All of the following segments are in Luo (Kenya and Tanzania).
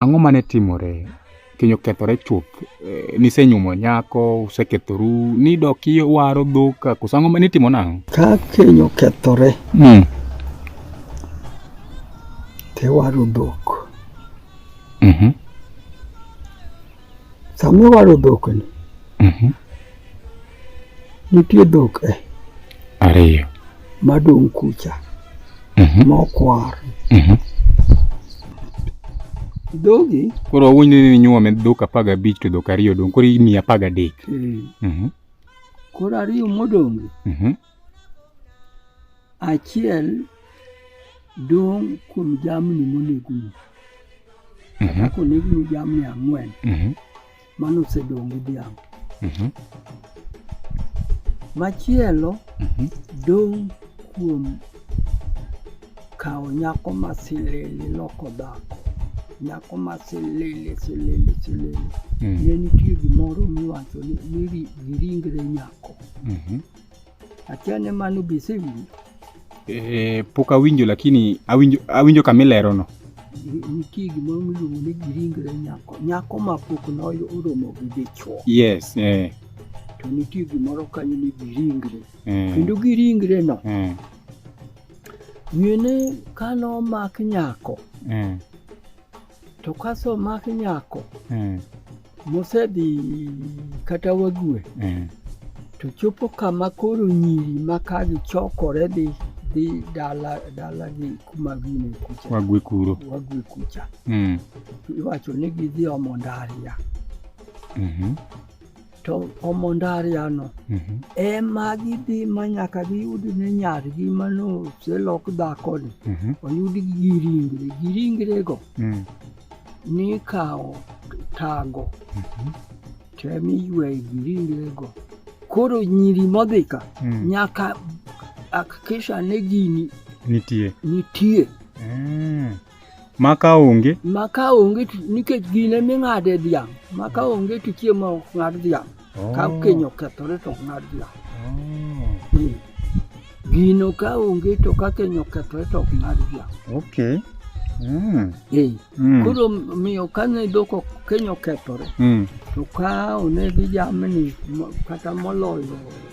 ang'o mane timore keny okethore chuth eh, nisenyuomo nyako usekethoru nidok iwaro dhok koso ang'o ma nitimo nang'o ka keny okethore mm. tiwaro dhok mm -hmm. sama iwaro dhok ni mm -hmm. nitie dhok e ariyo madong' kucha mhm. mokwar mhm. dhogi koro wawinjo ni nyuome dhok apar gabich to dhok ariyo dong' koro imiyo apar gadek eh. mhm. koro ariyo modongi achiel dong' kuom jamni moneguni kata konegni jamni ang'wen Mano osedong' gi dhiang'. Mhm. Machielo Mhm. dong' kuom kawo nyako ma silili loko dhako. Nyako ma silili silili silili. Mm. Ne nitie gimoro miwacho ni ni ri- giringre nyako. Mhm. Achane mano bise winjo. Eh, pok awinjo lakini awinjo awinjo kama ilero no. Nitie gimoro miluongo ni giringre nyako. Nyako ma pok noyo oromo gi dichwo. Yes, eh. To nitie gimoro kanyo ni giringre. Eh. Kendo giringre no. Eh. Nyene kano mak nyako. Eh. To kaso mak nyako. Eh. mosedhi kata wague eh. to chopo kama koro nyiri ma ka gichokore dhi dhi dala dala gi kuma gine kucha wague kuro wague kucha mm. iwacho ni gidhi omo ndaria mm -hmm. to omo ndaria no mm -hmm. ema gidhi ma nyaka giyud ne nyargi mano oselok dhakoni mm -hmm. oyud gi ringre gi ringrego mm. nikawo tago mhm. tem iyweyo gi ringrego koro nyiri modhi ka mm. nyaka akikisha ni gini nitie nitie mm. ma ka onge ma ka onge nikech gine ming'ade dhiang' ma ka onge to chiemo ok ng'ad dhiang' Ka keny okethore to ng'ad la. Ni, Gino ka onge to ka keny okethore to ok ng'ad la. Okay. Mm. Eh, Mm. Koro miyo kane dhok ok- keny okethore Mm. to ka onegi jamni mo- kata moloyo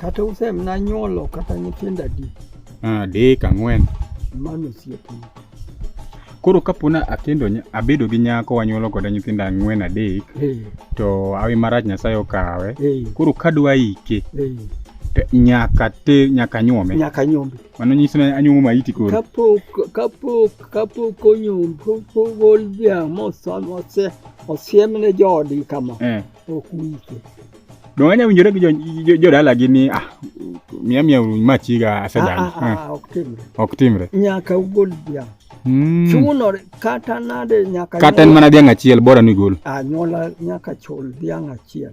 Kata usem na nyuolo kata nyithindo adi? Ah, dek ang'wen. Mano osiepni. Koro kapona akendo abedo gi nyako wanyuolo koda nyithindo ang'wen adek hey. to awi marach Nyasaye okawe hey. koro kadwa ike hey. nyaka te nyaka nyuome nyaka nyuome mano nyiso ni anyuomo maiti koro kapok kapok kapok onyuom pogol dhiang' mose osiemne joodgi kama eh. ok wike. Donge anya winjore gi jo- jodalagi ni ah, miya miya machiga Ah, asedagi. ah, Ah, ah, ok timre. Ok timre. Nyaka ugol dhiang'. Mm. Chunore kata nade nyaka Kata en nyuola- mana dhiang' achiel bora ni gol. anyuola nyaka chul dhiang' achiel.